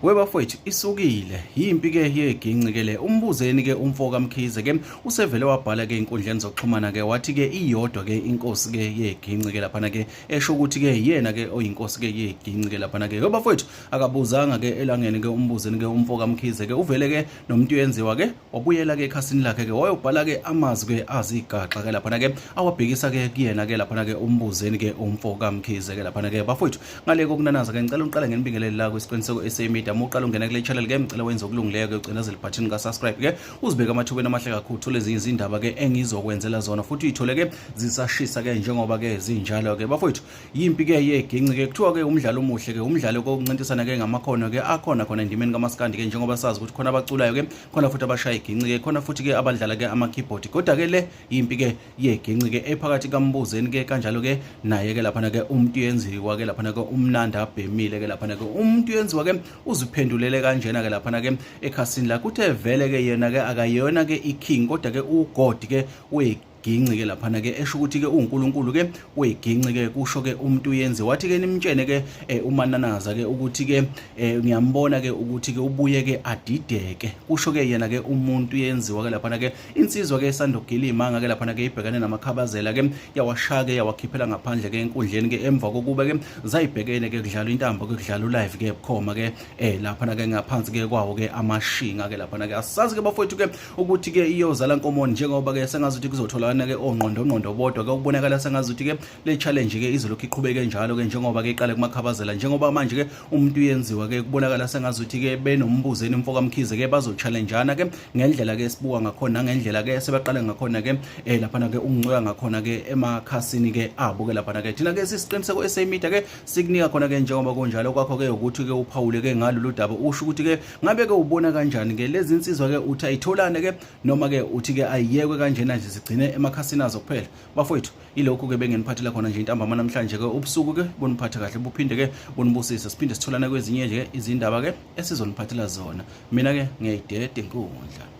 webafowethu isukile yimpi ke yeginci ke le umbuzeni ke umfo kamkhize ke usevele wabhala ke inkundleni zokuxhumana ke wathi ke iyodwa ke inkosi ke yeginci ke laphana ke esho ukuthi ke yena ke oyinkosi ke yeginci ke laphana ke webafowethu akabuzanga ke elangeni ke umbuzeni ke umfo kamkhize ke uvele ke nomuntu uyenziwa ke wabuyela ke ekhasini lakhe ke wayobhala ke amazwi ke azigaxa ke laphana ke awabhekisa ke kuyena ke laphana ke umbuzeni ke umfo kamkhize ke laphana ke bafowethu ngale kokunanaza ke ngicela uqale ngenibingelele la kwisiqiniseko SA Media uma uqala ungena kule channel ke ngicela wenze okulungileyo ke ucinezele button ka subscribe ke uzibeke amathubeni amahle kakhulu uthole ezinye izindaba ke engizokwenzela zona futhi uyithole ke zisashisa ke njengoba ke zinjalo ke bafowethu yimpi ke yeginci ke kuthiwa ke umdlalo omuhle ke umdlalo kokuncintisana ke ngamakhono ke akhona khona endimeni kamaskandi ke njengoba sazi ukuthi khona abaculayo ke khona futhi abashaya iginci ke khona futhi ke abadlala ke amakeyboard kodwa ke le yimpi ke yeginci ke ephakathi kambuzeni ke kanjalo ke naye ke laphana ke umuntu yenziwa ke laphana ke umnandi abhemile ke laphana ke umuntu yenziwa ke uziphendulele kanjena ke laphana ke ekhasini la kuthe vele ke yena ke akayona ke iking kodwa ke ugod ke uyiking ginci ke laphana ke esho ukuthi ke uNkulunkulu ke uyiginci ke kusho ke umuntu uyenze wathi ke nimtshene ke eh, umananaza ke ukuthi ke eh, ngiyambona ke ukuthi ke ubuye ke adideke kusho ke yena ke umuntu yenziwa ke laphana ke insizwa ke sandogila imanga ke laphana ke ibhekane namakhabazela ke yawashaya ke yawakhiphela ngaphandle ke enkundleni ke emva kokuba ke zayibhekene ke kudlala intambo ke kudlala ulive ke bukhoma ke eh laphana ke ngaphansi ke kwawo ke amashinga ke laphana ke asazi ke bafowethu ke ukuthi ke iyozala nkomoni njengoba ke sengazuthi kuzotholakana ke ongqondo ongqondo bodwa ke ukubonakala sengazuthi ke le challenge ke izolokhu iqhubeke njalo ke njengoba ke iqale kumakhabazela njengoba manje ke umuntu uyenziwa ke kubonakala sengazuthi ke benombuzeni umfo kamkhize ke bazochallengeana ke ngendlela ke sibuka ngakhona ngendlela ke sebaqale ngakhona ke eh lapha ke ungincika ngakhona ke emakhasini ke abo ke lapha ke thina ke sisiqiniseko esemedia ke sikunika khona ke njengoba kunjalo kwakho ke ukuthi ke uphawule ke ngalolu daba usho ukuthi ke ngabe ke ubona kanjani ke lezi insizwa ke uthi ayitholane ke noma ke uthi ke ayiyekwe kanjena nje zigcine emakhasini azo kuphela bafowethu ilokhu ke bengeniphathela khona nje intambama namhlanje ke ubusuku ke boniphathe kahle buphinde ke bonibusise siphinde sitholane kwezinye nje izindaba ke esizoniphathela zona mina ke ngiyayidede inkundla